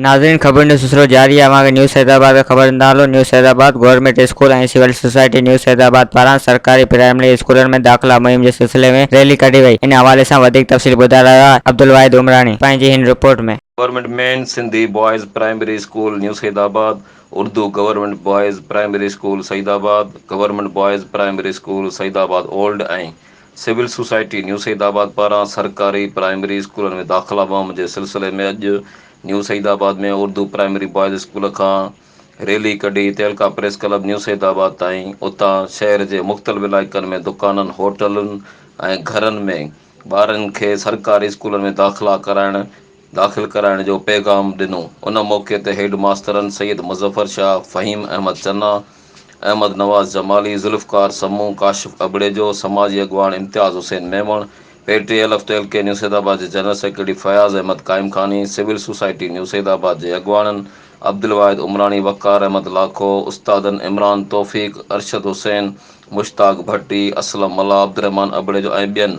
ناظرين خبر نيوز سلسلو جاري آهي اوهان کي نيوز حيدرآباد کان خبر ڏيندا هلون news Hyderabad government school ۽ civil society news Hyderabad پاران سرڪاري پرائمري اسڪولن ۾ داخلا مهم جي سلسلي ۾ ريلي ڪڍي وئي ان حوالي سان وڌيڪ تفصيل ٻڌائي رهيو آهي عبدالواحد عمراڻي پنهنجي هن report ۾. Government main Sindhi boys primary school news Hyderabad. Urdu government boys primary school Saeedabad, government boys primary school Saeedabad old ۽ civil society new Saeedabad پاران سرڪاري پرائمري اسڪولن ۾ داخلا مهم جي سلسلي ۾ اڄ new Saeedabad ۾ Urdu primary boys school کان ريلي ڪڍي تعلقه press club new Saeedabad تائين اتان شهر جي مختلف علائقن ۾ دڪانن هوٽلن ۽ گهرن ۾ ٻارن کي سرڪاري اسڪولن ۾ داخلا ڪرائڻ داخل ڪرائڻ جو پيغام ڏنو. ان موقعي تي هيڊ ماسترن سيد مظفر شاهه، فهيم احمد چنا، احمد نواز جمالي، ذوالفقار سمون، ڪاشف ابڙيجو، سماجي اڳواڻ Imtiaz Hussain Memon, P T L F ٽيل ڪي نيو سيد آباد جي general secretary Fayaz Ahmed Qaimkhani, civil society new Saeedabad جي اڳواڻن عبدالواحد عمراڻي، وقار احمد لاکو، استادن عمران توفيق، ارشد حسين، مشتاق ڀٽي، اسلم ملاح، عبدالرحمان ابڙيجو ۽ ٻين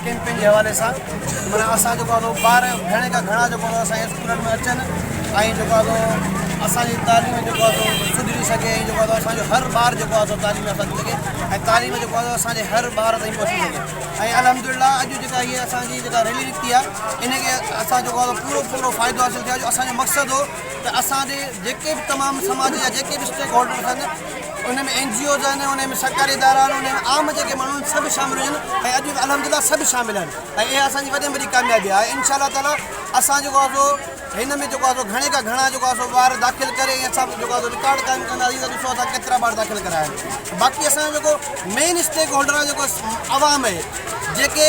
ڪيمپنگ جي حوالي سان معنيٰ اسان جيڪو آهي سو ٻار گهڻي کان گهڻا جيڪو آهي سو اسان جي اسڪولن ۾ اچن ۽ جيڪو آهي سو اسان جي تعليم جيڪو آهي سو سڌري سگهي ۽ جيڪو آهي سو اسان جو هر ٻار جيڪو آهي سو تعليم يافته ٿي سگهي ۽ تعليم جيڪو آهي سو اسان جي هر ٻار تائين پهچي سگهي ۽ الحمدلله اڄ جيڪا هيء اسان جي جيڪا ريلي نڪتي آهي ان کي اسان جيڪو آهي سو پورو پورو فائدو حاصل ٿيو آهي جو اسان جو مقصد هو ته اسان جي جيڪي به تمام سماج جا جيڪي به اسٽيڪ هولڊرز آهن ان ۾ اين جي اوز آهن، ان ۾ سرڪاري ادارا آهن، ان ۾ عام جيڪي ماڻهو آهن سڀ شامل هجن ۽ اڄ به الحمدلله سڀ شامل آهن ۽ اها اسان جي وڏي ۾ وڏي ڪاميابي آهي ۽ ان شاءالله تعالٰي اسان جيڪو آهي سو هن ۾ جيڪو آهي سو گهڻي کان گهڻا جيڪو آهي سو ٻار داخل ڪري ۽ اسان به جيڪو آهي سو رڪارڊ قائم ڪنداسين ته ڏسو اسان ڪيترا ٻار داخل ڪرايا آهن باقي اسان جو جيڪو مين اسٽيڪ هولڊر آهي جيڪو عوام آهي جيڪي